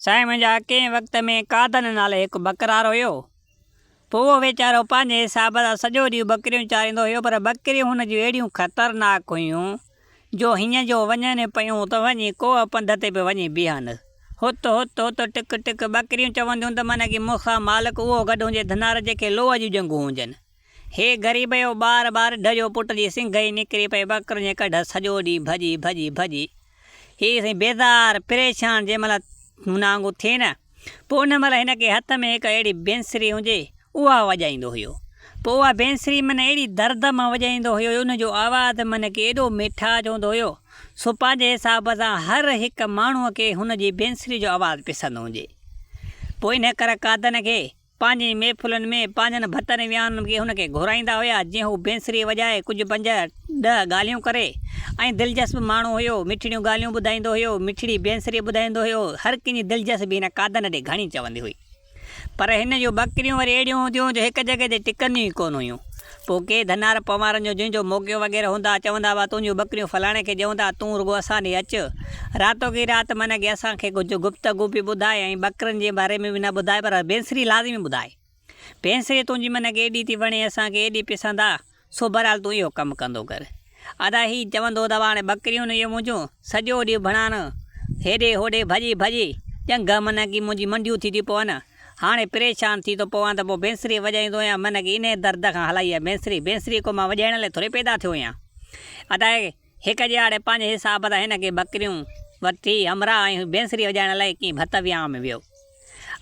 سائين منهنجا ڪنهن وقت ۾ قادن نالي هڪ ٻڪرار هيو. پوء اهو ويچارو پنهنجي حساب سان سڄو ڏينهن ٻڪريون چاريندو هيو پر ٻڪريون هن جون اهڙيون خطرناڪ هيون جو هينئن جو وڃن پيون ته وڃي ڪوهه پنڌ تي به وڃي بيهن. هت هت هت ٽڪ ٽڪ ٻڪريون چونديون ته من ڪي مون کان مالڪ اهو گڏهون جي ڌنار جنهن کي لوهه جون ڄنگهون هجن. هي غريب جو ٻار ٻار ڍ جو پٽ جي سنگهه ئي نڪري پئي ٻڪرن جي ڪڍ سڄو ڏينهن ڀڄي ڀڄي ڀڄي هي سائين بيزار پريشان جنهن مهل هن وانگو ٿئي نه پوء ان مهل هن کي هٿ ۾ هڪ اهڙي بينسري هجي اها وڄائيندو هيو پوء اها بينسري من اهڙي درد مان وڄائيندو هيو جو ان جو آواز من کي ايڏو ميٺاج هوندو هيو سو پنهنجي حساب سان هر هڪ ماڻهو کي هن جي بينسري جو آواز پسند هجي پوء ان ڪرڪادن کي پنهنجين محفلن ۾ پنهنجن ڀتن ويانهن ۾ هن کي گهرائيندا هيا جنهن هو بينسري وڄائي ڪجهه پنج ڏهه ڳالهيون ڪري ۽ دلجسب ماڻهو هيو مٺڙيون ڳالهيون ٻڌائيندو هيو مٺڙي بينسري ٻڌائيندو هيو هر ڪنهن جي دلجسبي هن قادن ڏي گهڻي چوندي هئي پر هن جون ٻڪريون وري اهڙيون هونديون هيون جو هڪ جڳهه تي ٽڪنديون ئي ڪونه هيون پوء ڪي ڌنار پنوارن جو جن جو موقعو وغيره هوندا، چوندا هئا، تنهنجون ٻڪريون فلاڻي کي ڏيون ٿا، تون رڳو اسان ڏي اچ. راتوڪي رات من اڳي اسان کي ڪجهه گفتگو به ٻڌاء ۽ ٻڪرن جي باري ۾ به نه ٻڌاء پر بينسري لازمي ٻڌاء. بينسري تنهنجي من کي ايڏي ٿي وڻي، اسان کي ايڏي پسند آ، سو بهرحال تون اهو ڪم ڪندو ڪر. ادا هي چوندو ته هاڻي ٻڪريون اهي منهنجون سڄو ڏينهن ڀڻان هيڏي هوڏي ڀڄي ڀڄي ڄنگهه منهن ڪي منهنجي منڊيون ٿي ٿيون پون هاڻي پريشان ٿي ٿو پوان ته پوء بينسري وڄائيندو هيان منهن ڪي انهي درد کان هلائي هيا بينسري بينسري ڪو مان وڄائڻ لاء ٿوري پيدا ٿيو هيان ادا هڪ ڄاڙي پنهنجي حساب سان هن ڪي ٻڪريون ورتي همراهه ۽ بينسري وڄائڻ لاء ڪي ڀت ويان ۾ ويو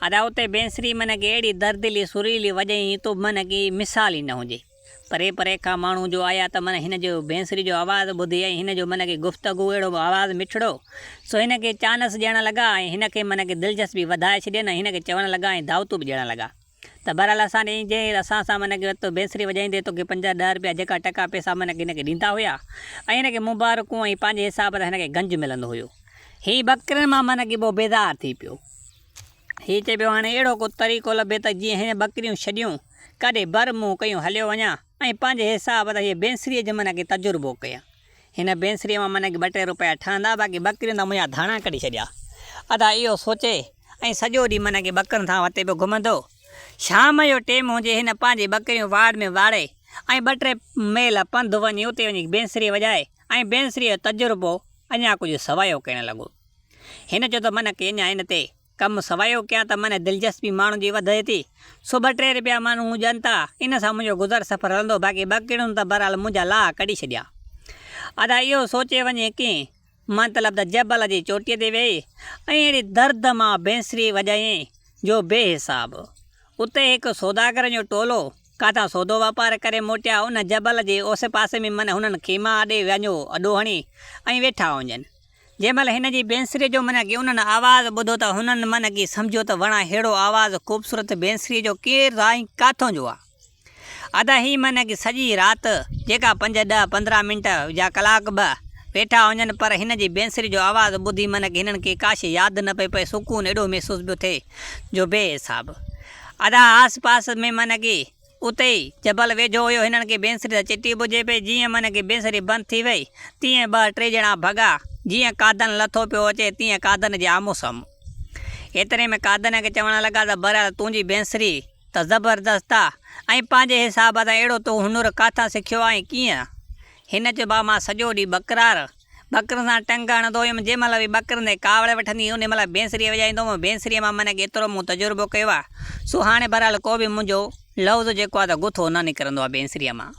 ادا اتي بينسري منهن ڪي اهڙي دردلي سريلي وڄائين تو منهن ڪي مثال ئي نه هجي. پري پري کان ماڻهو جو آيا ته من هن جي بينسري جو آواز ٻڌي ۽ هن جو من کي گفتگو اهڙو به آواز مٺڙو سو هن کي چانس ڏيڻ لڳا ۽ هن کي من کي دلچسپي وڌائي ڇڏين ۽ هن کي چوڻ لڳا ۽ دعوتون به ڏيڻ لڳا ته بهرحال اسان ڏي جي اسان سان من کي تو بينسري وڄائيندي توکي پنجاهه ڏهه روپيا جيڪا ٽڪا پئسا من کي هن کي ڏيندا هيا ۽ هن کي مبارڪون ۽ پنهنجي حساب سان هن کي گنج ملندو هيو هي ٻڪرين مان من کي بيزار ٿي پيو هي چئي پيو هاڻي اهڙو ڪو طريقو لڀي ته جيئن هن ٻڪريون ڇڏيون. ڪاڏي بر منهن ڪيون هليو وڃان ۽ پنهنجي حساب تان هيء بينسريء جو معنيٰ ڪي تجربو ڪيان. هن بينسريء مان معنيٰ ڪي ٻه ٽي روپيا ٺهندا، باقي ٻڪرين تان منهنجا ڌاڻا ڪڍي ڇڏيا. ادا اهو سوچي ۽ سڄو ڏينهن معنيٰ ڪي ٻڪرين ٿان وتي پيو گهمندو. شام جو ٽيم هجي، هن پنهنجي ٻڪريون واڙ ۾ واڙي ۽ ٻه ٽي ميل پنڌ وڃي اتي وڃي بينسري وڄائي ۽ بينسريء جو تجربو اڃا ڪجهه سوايو ڪرڻ لڳو. هن چيو ته معنيٰ ڪي اڃا ان تي. ڪم سوائيو ڪيان ته منهن دلچسپي ماڻهن جي وڌي ٿي، سو ٻه ٽي رپيا ماڻهو مون ڏين ٿا، ان سان منهنجو گذر سفر هلندو، باقي ٻه ڪڙيون ته بهرحال منهنجا لاها ڪڍي ڇڏيا. ادا اهو سوچي وڃي ڪين مطلب ته جبل جي چوٽيء تي ويهي ۽ اهڙي درد مان بينسري وڄايائين جو بي حساب. اتي هڪ سوداگرن جو ٽولو ڪاٿان سودو واپار ڪري موٽيا، ان جبل جي اوسي پاسي ۾ من هنن خيما آڏي وينجهو اڏو هڻي ۽ ويٺا هونجن. جنهن مهل هن جي بينسري جو من ڪي انهن آواز ٻڌو ته هنن من ڪي سمجهيو ته وڻا ههڙو آواز خوبصورت بينسري جو ڪير ٿا ۽ ڪاٿون جو آ. ادا هي من ڪي سڄي رات جيڪا پنج ڏهه پندرهن منٽ يا ڪلاڪ به ويٺا هجن پر هن جي بينسري جو آواز ٻڌي من ڪي هنن کي ڪاشي ياد نه پئي پئي سڪون اهڙو محسوس پيو ٿئي جو بي حساب. ادا آس پاس ۾ من ڪي اتي ئي جبل ويجهو هيو هنن کي بينسري سان چٽي ٻڌجي پئي جيئن منهن کي بينسري بند ٿي وئي تيئن ٻه ٽي ڄڻا ڀڳا جيئن قادن لٿو پيو اچي تيئن قادن جي آمهون سامهون ايتري ۾ قادن کي چوڻ لڳا ته بهرحال تنهنجي بينسري ته زبردست آ ۽ پنهنجي حساب سان اهڙو تون هنر ڪاٿان سکيو آهين ڪيئن هن چيو بابا مان سڄو ڏينهن ٻڪرار ٻڪرن سان ٽنگ هڻندو هيم، جنهن مهل به ٻڪرن تي ڪاوڙ وٺندي هيم، انهي مهل بينسري وڄائيندو هوم، بينسري مان منهن ڪيترو مون تجربو ڪيو آ، سو هاڻي بهرحال ڪو به منهنجو لفظ جيڪو آ ته گٿو نه نڪرندو آ بينسري مان.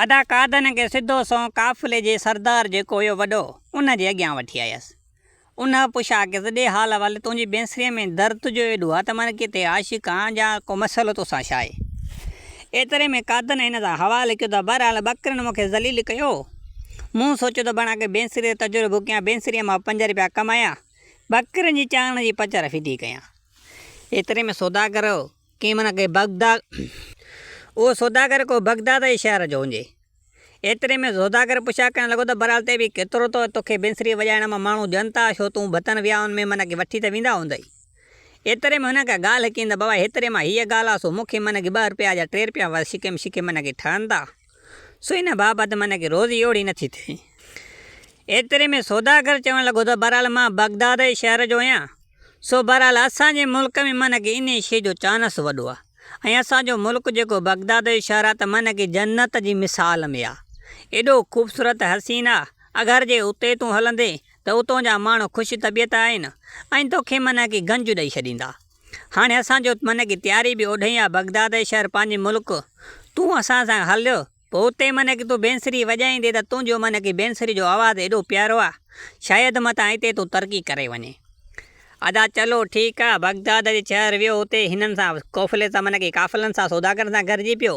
ادا قادن کي سڌو سنئون قافلي جي سردار جيڪو هيو وڏو، ان جي اڳيان وٺي آيس. ان پڇا ڪيس، ڏي حال حوالي، تنهنجي بينسريء ۾ درد تنهنجو ايڏو آ ته من ڪٿي عاشق آن جا ڪو مسئلو تو سان ڇا آهي؟ ايتري ۾ قادن هن سان حوالي ڪيو ته بهرحال ٻڪرين مون کي ذليل ڪيو. مون سوچيو ته بڻا ڪي بينسري تي تجربو ڀوڪيان، بينسريء مان پنج رپيا ڪمايان، ٻڪرين جي چاڻڻ جي پچ رفي ٿي ڪيان. ايتري ۾ سوداگر ڪنهن بڻا ڪي بغداد. اهو سوداگر ڪو بغداد جي شهر جو هجي. ايتري ۾ زوداگر پڇا ڪرڻ لڳو ته برال تي به ڪيترو ته توکي بينسري وڄائڻ مان ماڻهو ڄن ٿا ڇو تون ڀتن ويائن ۾ من ڪي وٺي ته ويندا هوندئي. ايتري ۾ هن ڪا ڳالهه ڪئي ته بابا هيتري مان هيء ڳالهه آ سو مون کي من ڪي ٻه رپيا جا ٽي رپيا وس شڪيم شڪي من ڪي ٺهن ٿا سو ان بابت من ڪي روزي اوڙي نٿي ٿئي. ايتري ۾ سوداگر چوڻ لڳو ته برال مان بغداد شهر جو هيان. سو بهرحال اسان جي ملڪ ۾ معنيٰ ڪه انهيء شيء جو چانس وڏو آهي ۽ اسان جو ملڪ جيڪو بغداد جو شهر آهي ته معنيٰ ڪه جنت جي مثال ۾ آهي. ايڏو خوبصورت حسين آهي، اگر جي اتي تون هلندين ته اتون جا ماڻهو خوش طبيعت آهن ۽ توکي معنيٰ ڪه گنج ڏئي ڇڏيندا. هاڻي اسان جو معنيٰ ڪه تياري به اوڍي آهي بغداد جو شهر پنهنجي ملڪ تون اسان سان هل پوء اتي من ڪي تون بينسري وڄائيندي ته تنهنجو من ڪي بينسري جو آواز ايڏو پيارو آ شايد متان اتي تون ترقي ڪري وڃين. ادا چلو ٺيڪ آ. بغداد جي شهر ويو اتي هنن سان قوفلي سان من ڪي قافلن سان سوداگرن سان گڏجي پيو.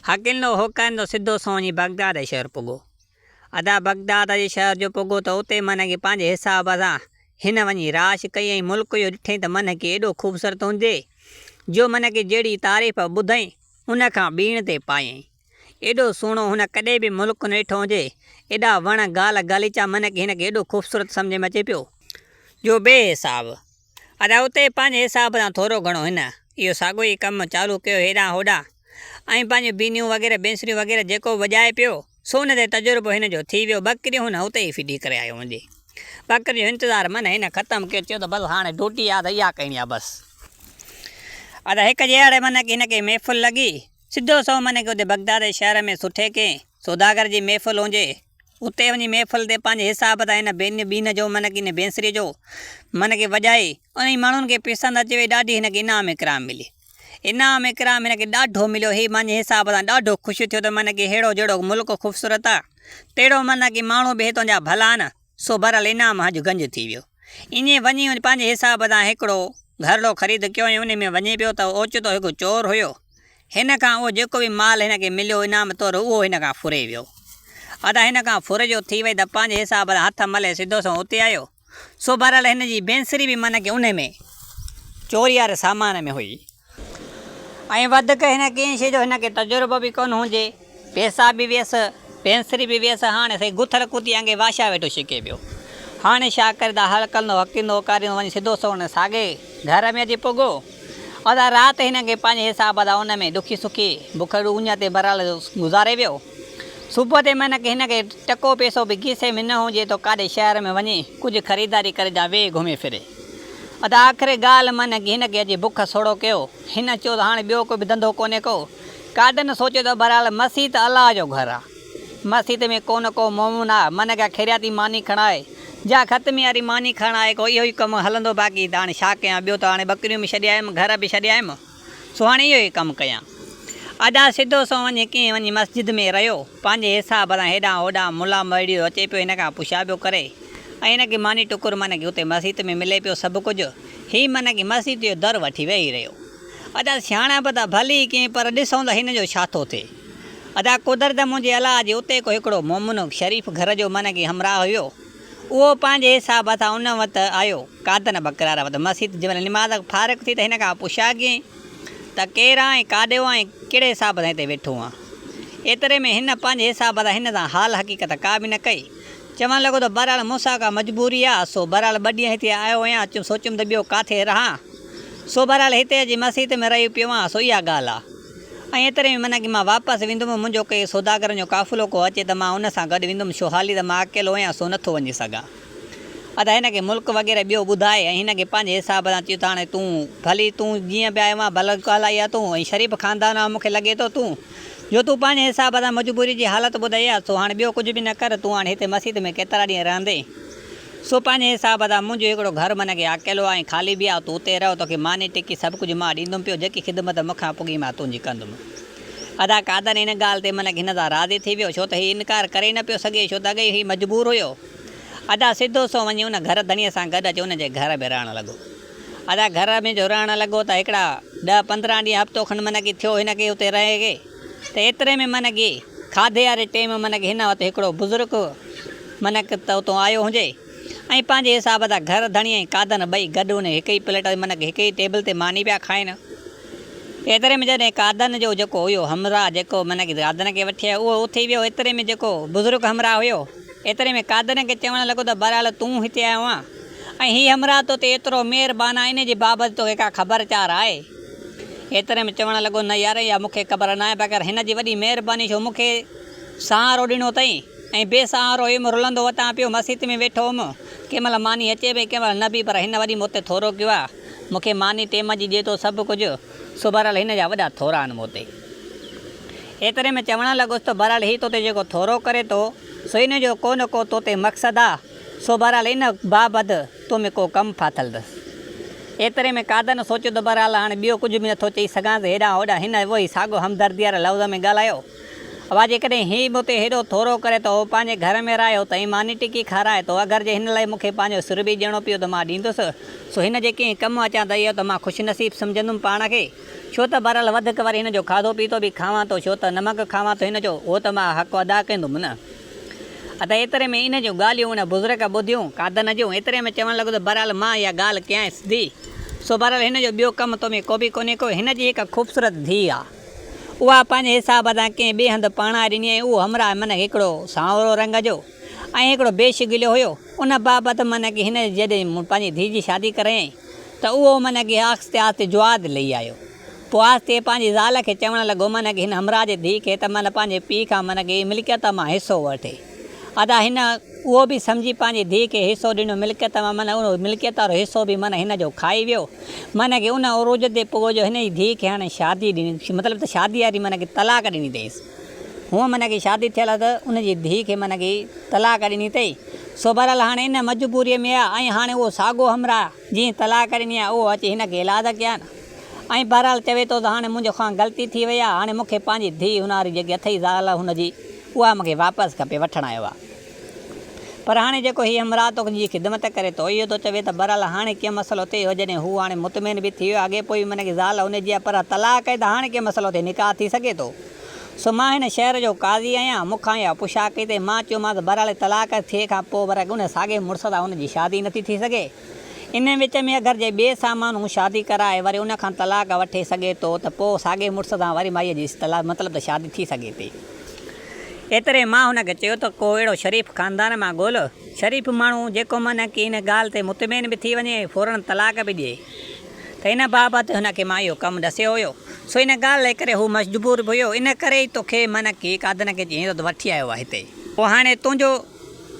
هڪلندو هوڪاريندو سڌو سنئون وڃي بغداد جي شهر پڳو. ادا بغداد جي شهر جو پڳو ته اتي من ڪي پنهنجي حساب سان هن وڃي راش ڪئي ۽ ملڪ اهو ڏٺئين ته من ڪي ايڏو خوبصورت هوندي جو من ڪي جهڙي تعريف ٻڌئين ان کان ٻيڻ تي پايئين. ايڏو سهڻو هن ڪڏهن به ملڪ ڪونه ڏٺو هجي. ايڏا وڻ، گال، غاليچا من کي هن کي ايڏو خوبصورت سمجهه ۾ اچي پيو. جو بي حساب. ادا اتي پنهنجي حساب سان ٿورو گهڻو هن اهو ساڳيو ئي ڪم چالو ڪيو هيڏانهن هوڏانهن ۽ پنهنجون بينيون وغيره بينسريون وغيره جيڪو به وڄائي پيو سو ان تي تجربو هن جو ٿي ويو. ٻڪريون هن اتي ئي ڦٽي ڪري آيو هوندي. ٻڪرين جو انتظار من هن ختم ڪيو. چيو ته بس هاڻي ڊوٽي آ ته اها ڪرڻي آ بس. ادا هڪ جي اهڙي من هن کي محفل لڳي. سڌو سنئون من کي اتي بغداد شهر ۾ سٺي ڪنهن سوداگر جي محفل هجي. اتي وڃي محفل تي پنهنجي حساب سان هن بين بين جو من هن بينسري جو من کي وڄائي. انهن ماڻهن کي پسند اچي وئي. ڏاڍي هن کي انعام اڪرام ملي. انعام اڪرام هن کي ڏاڍو مليو هي مانجهي حساب سان ڏاڍو خوش ٿيو ته معنيٰ ڪي ههڙو جهڙو ملڪ خوبصورت آ تهڙو معنيٰ ڪي ماڻهو به هتان جا ڀلا آن سو بهرحال انعام هنج گنج ٿي ويو ائين وڃي هن پنهنجي حساب سان هڪڙو گهرڙو خريد ڪيو ۽ انهي ۾ وڃي پيو ته اوچتو هڪ چور هيو هن کان اهو جيڪو به مال هن کي مليو انعام طور اهو هن کان ڦري ويو ادا هن کان ڦرجو ٿي وئي ته پنهنجي حساب سان هٿ ملي سڌو سنئون اتي آيو سو بهرحال هن جي بينسري به معنيٰ ڪي انهي ۾ چوري واري سامان ۾ هئي ۽ وڌڪ هن ڪنهن شي جو هن کي تجربو به ڪونه هجي پيسا به ويس بينسري به ويس هاڻي سائين گٿل ڪتي وانگي واشا ويٺو شڪي پيو هاڻي شا ڪري دا هل ڪندو هڪيندو هڪاريندو وڃي سڌو سونهن ساڳي گهر ۾ اچي پڳو ادا رات هن کي پنهنجي حساب دا ان ۾ ڏکي سکي بکڙي اڃا تي برحال گذاري ويو. صبح تي مهنڪ هن کي ٽڪو پيسو به کيسي ۾ نه هجي ته ڪاڏي شهر ۾ وڃي ڪجهه خريداري ڪري جا ويهي گهمي ڦري. ادا آخري ڳالهه مهنڪ هن کي اڄ بک سوڙهو ڪيو. هن چيو ته هاڻي ٻيو ڪو به ڌنڌو ڪونهي ڪو. ڪاڏن سوچيو ته بهرحال مسيت الله جو گهر آ. مسيت ۾ ڪو نه ڪو مومن آ. مهنڪ جا خيرياتي ماني کڻڻ آهي. جا ختمي واري ماني کڻڻ آهي ڪو اهو ئي ڪم هلندو باقي ته هاڻي ڇا ڪيان ٻيو ته هاڻي ٻڪريون به ڇڏي آيم گهر به ڇڏي آيم. سو هاڻي اهو ئي ڪم ڪيان. ادا سڌو سنئون وڃي ڪنهن وڃي مسجد ۾ رهيو. پنهنجي حساب سان هيڏانهن هوڏانهن ملا مڙيو اچي پيو هن کان پڇا پيو ڪري ۽ هن کي ماني ٽڪر معنيٰ ڪي اتي مسيت ۾ ملي پيو سڀ ڪجهه. هي معنيٰ ڪي مسيت جو در وٺي ويهي رهيو. ادا سياڻپ ته ڀلي ئي ڪئين پر ڏسون ته هن جو ڇا ٿو ٿئي. ادا قدرت منهنجي الاء جي اتي ڪو هڪڙو مومنو شريف گهر جو معنيٰ ڪي همراهه هيو. اهو پنهنجي حساب سان ان وت آيو. قادن بقرار وت مسيت جي ڀر نماز کان فارغ ٿي ته هن کان پڇياگين ته ڪير آهين ۽ ڪاڏي ويو آهين ۽ ڪهڙي حساب سان هتي ويٺو آهين؟ ايتري ۾ هن پنهنجي حساب سان هن سان حال حقيقت ڪا به نه ڪئي. چوڻ لڳو ته بهرحال مون سان ڪا مجبوري آهي سو بهرحال ٻه ڏينهن هتي آيو هيان سوچيم ته ٻيو ڪاٿي رهان سو بهرحال هتي اچي مسيت ۾ رهي پيو آهيان سو اها ڳالهه آهي. ۽ ايتري ۾ منا ڪي مان واپس ويندم، منهنجو ڪي سوداگرن جو قافلو ڪو اچي ته مان ان سان گڏ ويندم، ڇو حالي ته مان اڪيلو آهيان سو نٿو وڃي سگهان. ادا هن کي ملڪ وغيره ٻيو ٻڌائي ۽ هن کي پنهنجي حساب سان چيو ته هاڻي تون ڀلي تون جيئن به آيو آهين ڀلو ڪهلائي ها تون ۽ شريف خاندان آهو مون کي لڳي ٿو تون جو تون پنهنجي حساب سان مجبوري جي حالت ٻڌائي ها سو هاڻي ٻيو ڪجهه به نه ڪر تون هاڻي هتي مسيت ۾ ڪيترا ڏينهن رهندين سو پنهنجي حساب سان منهنجو هڪڙو گهر منهن کي اڪيلو ۽ خالي به آهي، تون اتي رهه، توکي ماني ٽڪي سڀ ڪجهه مان ڏيندم پيو، جيڪي خدمت مون کان پڳي مان تنهنجي ڪندم. ادا قادر ان ڳالهه تي منهن کي هن سان راضي ٿي ويو، ڇو ته هي انڪار ڪري ئي نه پيو سگهي، ڇو ته اڳي ئي هي مجبور هيو. ادا سڌو سنئون وڃي ان گهر ڌڻيء سان گڏ اچي ان جي گهر ۾ رهڻ لڳو. ادا گهر ۾ جو رهڻ لڳو ته هڪڙا ڏهه پندرهن ڏينهن هفتو کن منهن کي ٿيو هن کي اتي رهي کي. ته ايتري ۾ منهن گي کاڌي واري ٽيم منهن گي هن وت هڪڙو بزرگ منهن ڪه ته اتون آيو هنجي ۽ پنهنجي حساب سان گهر ڌڻي ۽ قادن ٻئي گڏ انهي هڪ ئي پليٽ تي منهن گي هڪ ئي ٽيبل تي ماني پيا کائين ايتري ۾ جڏهن قادن جو جيڪو هيو همراهه جيڪو منهن گي قادن کي وٺي آيو اهو اٿي ويو ايتري ۾ جيڪو بزرگ همراهه هيو ايتري ۾ قادن کي چوڻ لڳو ته بهرحال تون هتي آيو آهين ۽ هي همراهه تو تي ايترو مهربان آهي انهي جي بابت توکي ڪا خبر چار آهي. ايتري ۾ چوڻ لڳو، نه يار اها مون کي خبر ناهي مگر هن جي وڏي مهرباني جو مون کي سهارو ڏنو اٿئي ۽ بي سهارو هيم رلندو وتان پيو مسيت ۾ ويٺو هوم ڪنهن مهل ماني اچي پئي ڪنهن مهل نه به پر هن وري مون تي ٿورو ڪيو آهي مون کي ماني ٽيم جي ڏي ٿو سڀ ڪجهه سو بهرحال هن جا وڏا ٿورا آهن مون تي. ايتري ۾ چوڻ لڳس ته بهرحال هي تو تي جيڪو ٿورو ڪري ٿو سو ان جو ڪو نه ڪو تو تي مقصد آهي سو بهرحال ان بابت تو ۾ ڪو ڪم ڦاٿل اٿس. ايتري ۾ قادر نه سوچيو ته بهرحال هاڻي ٻيو ڪجهه به نٿو چئي سگهانس هيڏانهن هوڏانهن هن اهوئي ساڳيو همدردي واري لفظ ۾ ڳالهايو اوا جيڪڏهن هي مون تي هيڏو ٿورو ڪري ته اهو پنهنجي گهر ۾ رهي هو ته هي ماني ٽڪي کارائي ٿو اگر جي هن لاء مون کي پنهنجو سر به ڏيڻو پيو ته مان ڏيندس سو هن جي ڪنهن ڪم اچان ته اهو ته مان خوش نصيب سمجهندم پاڻ کي ڇو ته بهرحال وڌيڪ وري هن جو کاڌو پيتو به کاوان ٿو ڇو ته نمڪ کاوان ٿو هن جو اهو ته مان حق ادا ڪندم نه. ادي ايتري ۾ ان جون ڳالهيون ان بزرگ ٻڌيون، قادن جون، ايتري ۾ چوڻ لڳو ته بهرحال مان اها ڳالهه ڪيانئس ڌي، سو بهرحال هن جو ٻيو ڪم تو ۾ ڪوبه ڪونهي ڪو هن جي هڪ خوبصورت ڌي آ، اها پنهنجي حساب سان ڪنهن ٻئي هنڌ پرڻائي ڏني ۽ اهو همراهه منک هڪڙو سانورو رنگ جو ۽ هڪڙو بي شڪليو هيو، ان بابت منک هن جڏهن مون پنهنجي ڌي جي شادي ڪرايائين ته اهو منک آهستي آهستي جواز لهي آيو. پوء آستي پنهنجي زال کي چوڻ لڳو من هن همراهه جي ڌيء کي ته من پنهنجي پيء کان من ڪي ملڪيت مان حصو وٺي. ادا هن اهو به سمجهي پنهنجي ڌيء کي حصو ڏنو ملڪيت مان من اهو ملڪيت وارو حصو به من هن جو کائي ويو. من ڪي ان عروج تي پوء جو هن جي ڌيء کي هاڻي شادي ڏني مطلب ته شادي واري من ڪي طلاق ڏني اٿئيس. هونء من ڪي شادي ٿيل هئس ته ان جي ڌيء کي من ڪي طلاق ڏني اٿئي. سو بهرحال هاڻي ان مجبوريء ۾ آ ۽ هاڻي اهو ساڳو همراهه جنهن طلاق ڏني آ اهو اچي هن کي الاذ ڪيان. ۽ بهرحال چوي ٿو ته هاڻي منهنجو کان غلطي ٿي وئي آهي هاڻي مون کي پنهنجي ڌيء هناري جيڪي اٿئي زال هن جي اها مون کي واپس کپي وٺڻ آيو آهي پر هاڻي جيڪو هي همراهه توکي جي خدمت ڪري ٿو اهو ٿو چوي ته بهرحال هاڻي ڪي مسئلو ٿئي اهو جڏهن هو هاڻي مطمئن به ٿي ويو آهي اڳي پوء به منهنجي زال هن جي آهي پر اها طلاق آهي ته هاڻي ڪي مسئلو ٿئي نڪاح ٿي سگهي ٿو سو مان هن شهر جو قاضي آهيان مون کان اها پڇا ڪئي تائين مان چيومانس بهرحال طلاق ٿئي کان پوء ورق ان ساڳئي مڙس سان هن جي شادي نٿي ٿي سگهي. انهن وچ ۾ اگر جي ٻئي سامهون شادي ڪرائي وري ان کان طلاق وٺي سگهي ٿو ته پوء ساڳئي مڙس سان وري مائيء جي طلاق مطلب ته شادي ٿي سگهي ٿي. ايتري مان هن کي چيو ته ڪو اهڙو شريف خاندان مان ڳول، شريف ماڻهو جيڪو معنيٰ ڪي ان ڳالهه تي مطمئن به ٿي وڃي ۽ فوراً طلاق به ڏئي ته ان بابت هن کي مان اهو ڪم ڏسيو هيو سو ان ڳالهه ڪري هو مجبور به هيو ان ڪري ئي توکي معنيٰ ڪي ڪادنڪي چيائين ته وٺي آيو آهي هتي. پوء هاڻي تنهنجو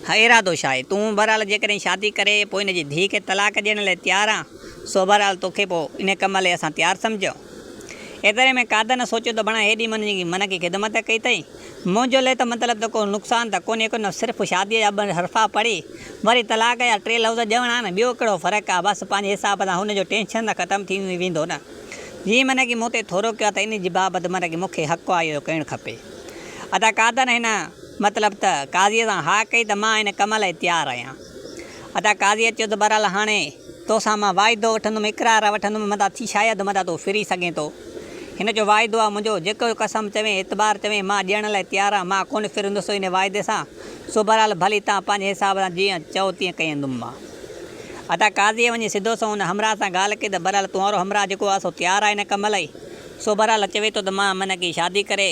هيء ارادو ڇا آهي؟ تون بهرحال جيڪڏهن شادي ڪري پوء هن جي ڌيء کي طلاق ڏيڻ لاء تيار آن، سو بهرحال تو کي پوء انهيء ڪم لاء اسان تيار سمجهيو. ايتري ۾ قادر نه سوچيو ته بڻا هيڏي من ڪي خدمت ڪئي اٿئي. منهنجو لئه ته مطلب ته ڪو نقصان ته ڪونهي ڪيو نه صرف شاديء جا ٻه حرفا پڙهي وري طلاق جا ٽي لفظ ڄڻ آن، ٻيو ڪهڙو فرق آ، بس پنهنجي حساب سان هن جو ٽينشن ته ختم ٿي ويندو نه. جيئن من ڪي مون تي ٿورو ڪيو آ ته انهيء جي بابت من ڪي مون کي حق آيو ڪرڻ کپي. ادا قادر هن. مطلب ته قاضيء سان هاء ڪئي ته مان ان ڪم لاء تيار آهيان. ادا قاضيء چيو ته بهرحال هاڻي تو سان مان واعدو وٺندم، اقرار وٺندم، متان ٿي شايد متان تون ڦري سگهين ٿو. هن جو واعدو آهي منهنجو، جيڪو قسم چوين، اعتبار چوين، مان ڏيڻ لاء تيار آهيان، مان ڪونه ڦرندس انهيء واعدي سان، سو بهرحال ڀلي توهان پنهنجي حساب سان جيئن چئو تيئن ڪيندم مان. ادا قاضيء وڃي سڌو سنئون ان همراهه سان ڳالهه ڪئي ته بهرحال تون وارو همراهه جيڪو آهي سو تيار آهي ان ڪم لاء، سو بهرحال چوي ٿو ته مان منهنجي شادي ڪري،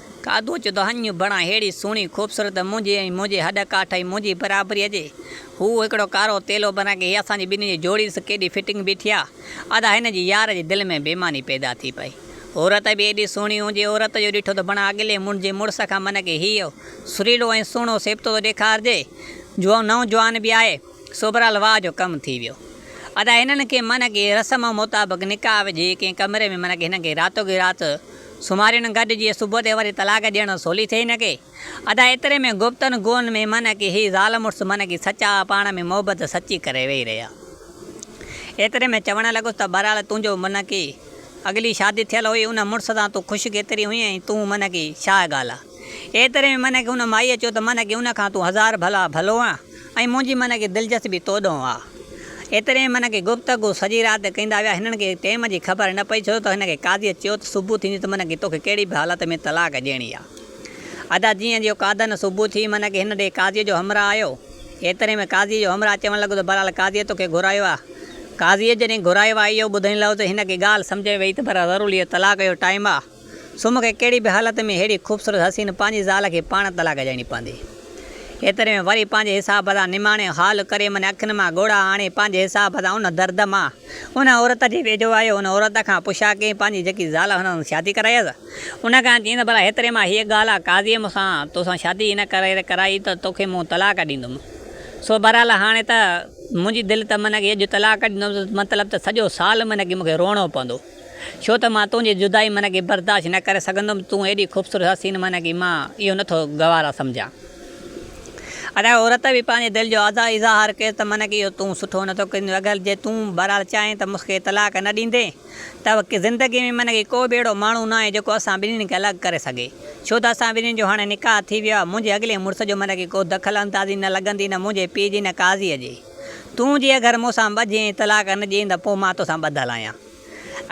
کاڌو چيو ته هنڱ بڻا ههڙي سهڻي خوبصورت ته منهنجي ۽ منهنجي هڏ ڪاٺ ۽ منهنجي برابري هجي. هو هڪڙو ڪارو تيلو بڻا ڪي هي اسان جي ٻنهي جي جوڙي ڏس ڪيڏي فٽنگ بيٺي آ. ادا هن جي يار جي دل ۾ بيماني پيدا ٿي پئي. عورت به ايڏي سهڻي هجي عورت جو ڏٺو ته بڻا اڳلي منهن جي مڙس کان من ڪي هيء سريلو ۽ سهڻو سيبتو ته ڏيکارجي. جوان نئون جوان به آهي. سو برحال واهه جو ڪم ٿي ويو. ادا هنن کي من ڪي رسم مطابق نڪاح وجهي ڪنهن ڪمري ۾ من ڪي هنن کي راتو ڪي رات سومارين گڏ جي صبح تي وري طلاق ڏيڻ سولي ٿئي نه ڪي ادا ايتري ۾ گفتن گون ۾ من ڪي هي زال مڙس من ڪي سچا پاڻ ۾ محبت سچي ڪري ويهي رهيا ايتري ۾ چوڻ لڳس ته بهرحال تنهنجو من ڪي اڳلي شادي ٿيل هئي ان مڙس سان تون خوش ڪيتري هئين ۽ تون من ڪي ڇا ڳالهه ايتري ۾ منهن کي هن مائيء چيو ته منهن کي ان کان تون هزار ڀلا ڀلو آن ۽ منهنجي منهن کي دلچسپي تو ڏانهن آ. ايتري ۾ منهن کي گفتگو سڄي رات ڪندا ويا. هنن کي ٽيم جي خبر نه پئي ڇو ته هن کي قاضيء چيو ته صبح ٿيندي ته منهن کي توکي ڪهڙي به حالت ۾ طلاق ڏيڻي آ. ادا جيئن جيو قادن صبح ٿي منهن کي هن ڏي قاضيء جو همراهه آيو. ايتري ۾ قاضيء جو همراهه چوڻ لڳو ته بهرحال قاضيء توکي گهرايو آ. قاضيء جڏهن گهرايو آ اهو ٻڌڻ لڳو ته هن کي ڳالهه سمجهه ۾ ويئي ته پر ضرور اهو طلاق جو ٽائيم آ. سو مون کي ڪهڙي به حالت ۾ ههڙي خوبصورت حسين پنهنجي زال کي پاڻ طلاق ڏيڻي پوندي. ايتري ۾ وري پنهنجي حساب سان نماڻي حال ڪري منهنجي اکين مان ڳوڙها هڻي پنهنجي حساب سان ان درد مان ان عورت جي ويجهو آيو ان عورت کان پڇا ڪيائين پنهنجي جيڪي زال هن سان شادي ڪرائيس ان کان چيائينس ڀلا هيتري مان هيء ڳالهه آ قاضيء مون سان تو سان شادي هن ڪري ڪرائي ته تو کي مون طلاق ڏيندم سو بهرحال هاڻي ته منهنجي دل ته منهنجي اڄ طلاق ڏيندم مطلب ته سڄو سال منهنجي مون کي روئڻو پوندو. ڇو ته مان تنهنجي جدائي معنيٰ ڪي برداشت نه ڪري سگهندم تون ايڏي خوبصورت حسين معنيٰ ڪي مان اهو نه ٿو گوارا سمجهان ادا عورت به پنهنجي دل جو ادا اظهار ڪيس ته معنيٰ ڪي اهو تون سٺو نه ٿو ڪرين اگر جي تون بهرحال چاهين ته مس کي طلاق نه ڏيندين ته زندگي ۾ معنيٰ ڪي ڪو به اهڙو ماڻهو ناهي جيڪو اسان ٻنهين کي الڳ ڪري سگهي ڇو ته اسان ٻنهين جو هاڻي نڪاح ٿي ويو آهي منهنجي اڳلي مڙس جو معنيٰ ڪي ڪو دخل اندازي نه لڳندي نه منهنجي پيء جي نه قاضي جي. تون جي اگر مون سان ٻڌين ۽ طلاق نه ڏئين ته پوء مان تو سان ٻڌل آهيان.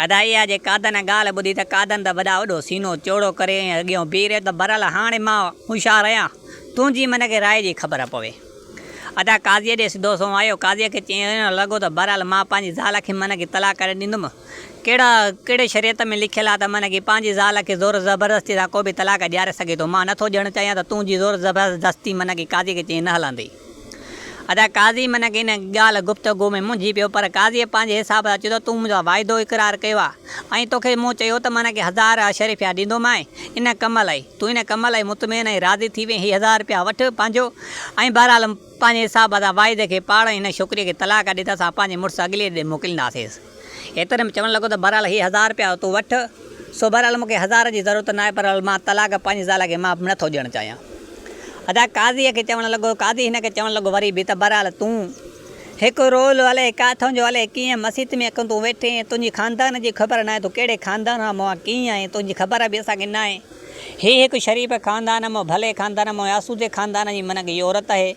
ادائيه جي قادن جي ڳالهه ٻڌي ته قادن ته وڏا وڏو سينو چوڙو ڪري ۽ اڳيئون بيهي رهيو ته برحال هاڻي مان هوشيار آهيان، تنهنجي من کي راء جي خبر پوي. ادا قاضيء ڏي سڌو سنئون آيو، قاضيء کي چيائين ائين نه لڳو ته برحال مان پنهنجي زال کي من کي طلاق ڪڏهن ڏيندم. ڪهڙا ڪهڙي شريعت ۾ لکيل آهي ته من کي پنهنجي زال کي زور زبردستي سان ڪو به طلاق ڏياري سگهي ٿو. مان نه ٿو ڏيڻ چاهيان ته تنهنجي زور زبردستي من کي قاضيء کي چيائين نه هلندي. ادا قاضي منک ان ڳالهه گفتگو ۾ منجهي پيو پر قاضي پنهنجي حساب سان چيو ته تون منهنجو واعدو اقرار ڪيو آ ۽ توکي مون چيو ته منک هزار اشرفيا ڏيندومانء ان ڪم لئي تون ان ڪم لئي مطمئن ۽ راضي ٿي وئين هي هزار رپيا وٺ پنهنجو ۽ بهرحال پنهنجي حساب سان واعدي کي پاڙ ۽ هن ڇوڪري کي طلاق ڏي ته اسان پنهنجي مڙس اڳلي ڏي موڪلينداسينس. ايتري ۾ چوڻ لڳو ته بهرحال هي هزار رپيا تون وٺ، سو بهرحال مون کي هزار جي ضرورت ناهي، بهرحال مان طلاق پنهنجي زال کي مان نٿو ڏيڻ چاهيان. ادا قاضيء کي چوڻ لڳو، قاضي هن کي چوڻ لڳو وري به ته بهرحال تون هڪ رول الئي ڪاٿئون جو الئي ڪيئن مسيت ۾ اڪن تون ويٺي ۽ تنهنجي خاندان جي خبر ناهي تون ڪهڙي خاندان مان مان ڪيئن آهين تنهنجي خبر به اسان کي ناهي هي هڪ شريف خاندان مان ڀلي خاندان مان آسودي خاندان جي منهن ڪي عورت اهي.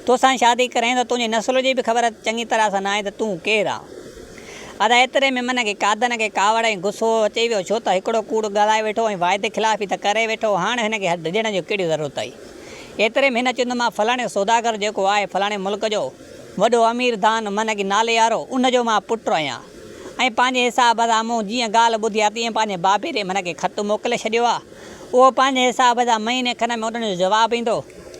توسان شادي ڪرين ته تنهنجي نسل جي به خبر چڱي طرح سان ناهي ته تون ڪير آن. ادا ايتري ۾ من کي قادن کي ڪاوڙ ۽ غصو اچي ويو ڇو ته هڪڙو ڪوڙ ڳالهائي ويٺو ۽ واعدي خلافي ته ڪري ويٺو هاڻ هن کي ڊڄڻ جي ڪهڙي ضرورت هئي. ايتري ۾ هن چيو ته مان فلاڻي سوداگر جيڪو آهي فلاڻي ملڪ جو وڏو امير دان من کي نالي وارو ان جو مان پٽ آهيان ۽ پنهنجي حساب سان مون جيئن ڳالهه ٻڌي آهي تيئن پنهنجي بابي ڏي من کي خط موڪلي ڇڏيو آهي. اهو پنهنجي حساب سان مهيني کن ۾ اڏڻ جو جواب ايندو.